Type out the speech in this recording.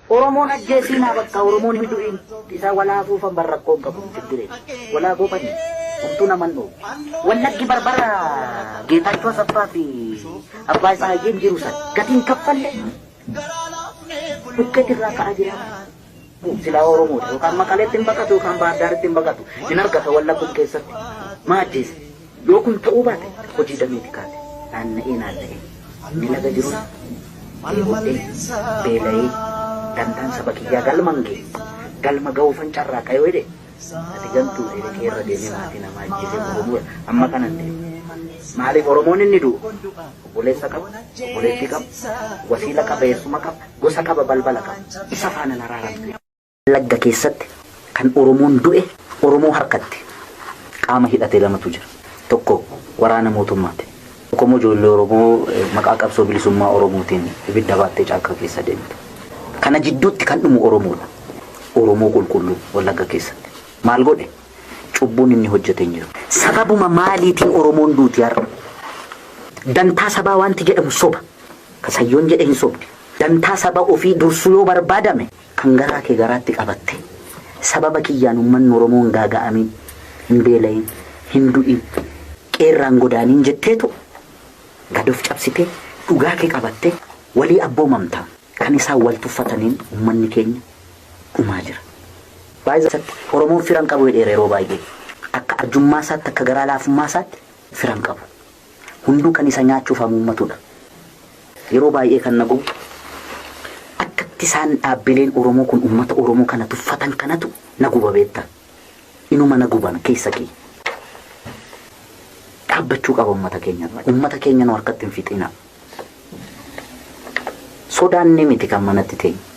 Oromoon ajjeesiinaa bakka Oromoon hin du'iin isaa walaa afuufan bar rakkoon qabu hin jireen walaa goobani homtuu naman dhoobu wallaggi barbara geetaachoo asaffaa fi abbaa isaa hayyeen jiru san gatiin kaffalle bukkee jirraa ka'aa jira silaa Oromoodha yookaan maqaleetti hin baqatu yookaan baardaaritti hin baqatu hin argata wallagguun keessatti maa ajjeesa Yoo kun ta'uu baate hojii dameeti kaate naanna'ee naanna'ee ni laga jirus dheebodhee beela'ee dantaan saba kiyyaa galman gee galma ga'uufan carraaqa yoo jedhe ati gantuu dheedhe kee irra deemee maatii namaa ajjeesee gurguruu amma kanan deemu. Maaliif Oromoon inni du'u obboleessa qaba, obboleettii qaba, wasiila qaba, eessuma qaba, gosa qaba, balbala qaba. Isa faana naraaramtu. Wallagga keessatti kan Oromoon du'e Oromoo harkatti qaama hidhate lamatu jira. Tokko waraana mootummaati. Tokkommoo ijoollee Oromoo maqaa qabsoo bilisummaa Oromootiin ibidda baattee caakkaa keessa deemtu. Kana jidduutti kan dhumu Oromoodha. Oromoo qulqulluu Wallagga keessatti. Maal godhe? Cubbuun inni hojjete hin jiru. Sababuma maaliitiin Oromoon duuti har'a? Dantaa sabaa waanti jedhamu soba. Ka Sayyoon jedhe hin sobdu. Dantaa saba ofii dursuu yoo barbaadame Kan garaa kee garaatti qabatte. Sababa kiyyaan ummanni Oromoo hin gaaga'amin, hin beelayin, hin du'in, qe'ee irraa hin godaanin jetteetu gad of cabsitee dhugaa kee qabattee walii abboomamta. Kan isaan wal tuffataniin ummanni keenya dhumaa jira. By the way, Oromoon fira hin qabu jedheera yeroo baay'ee. Akka arjummaa isaatti, akka garaa laafummaa isaatti fira hin qabu. hunduu kan isa nyaachuuf hamuummatudha. Yeroo baay'ee kan na gubu akkatti isaan dhaabbileen Oromoo kun uummata Oromoo kana tuffatan kanatu na guba beektaa. Inuma na guban keessa kiyya. Dhaabbachuu qaba uummata keenyarraa. Uummata keenya nu harkatti hin fixinaa. Sodaannee miti kan manatti teenyu.